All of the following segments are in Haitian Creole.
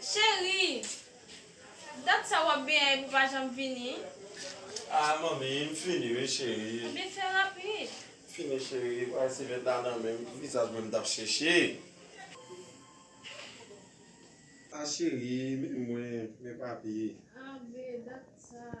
Cheri! Dat sa wap benyen epi w pa janm vini? Ah manmi, m fini wi cheri. Ebyen fè rapid. M fini cheri, bagay sivèt la nan menm, ki vizaj mwen m tap chèche? Ah cheri, men mwen, men papi. Ah bby, dat sa.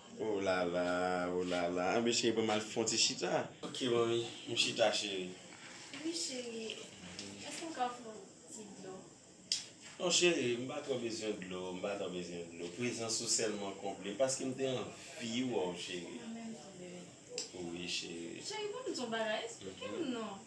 Oh lala oh lala anbyen cheri banm al fon ti chita. Ok manmi m chita cheri. Wi cheri eske m ka fon ti dlo. Non cheri m pa tro bezwen dlo m pa tro bezwen dlo prezans ou selman konble m paske m te anvi wè w cheri. Mwen menm tou bebe. Wi cheri. Cheri banm di w bagay esplike m non.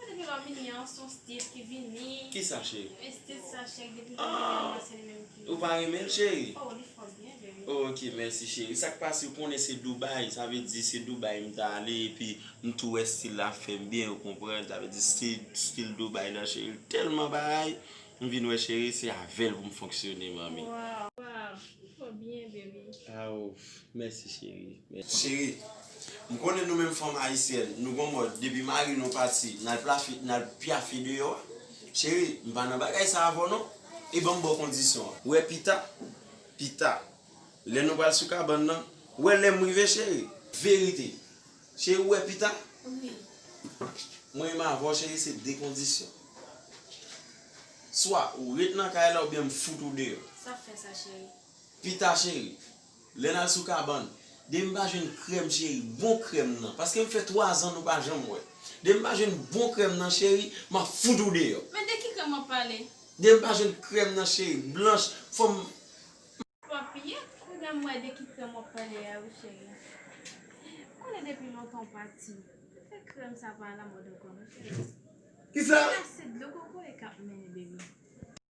Mwen depi lò mini an son stil ki vini. Kisa cheri? Men stil sa cheri depi lè mini an mwen se li menm ki. Ou pa renmenl cheri? Oh li fò byen vre wi. Ok mèsi cheri. Sak pase ou konnen se Dubai sa vle di se Dubai m ta ale epi m tou wè stil la ap fèm byen ou konprann sa vle di se stil Dubai nan cheri l tèlman bagay m vin wè cheri se avèl pou m fonksyone manmi. Waww ou fò byen baby. Aww. Mèsi cherie mèsi. Cheri M konnen nou menm fanm ayisyèn nou gon mòd depi mari nou pati nal plafi nal pyafe deyò a cheri m pa nan bagay sa avèw non e banm baw kondisyon an. Wè pita pita lè nou pral sou kabann nan wè lèm rive cheri. Verite Cheri ou wè pita Mwen menm avèw cheri se de kondisyon swa ou ret nan kay la oubyen m fout ou deyò. Sap fè sa cheri. Pita cheri. Lè nal sou kabann. Demi pa jwenn krèm cheri bon krèm nan paskem fè 3 zan nou pa janm wè demi pa jwenn bon krèm nan cheri map fout ou deyò. Men de ki krèm wap pale. Demi pa jwenn krèm nan cheri blanch fòm m. Papy kounya m wè de ki krèm wap pale a wi cheri m konnen depi lontan w pati men fè krèm sa pa alamòd ankò non cheri kisa. Kisa se dlo kokoye kap mennen baby.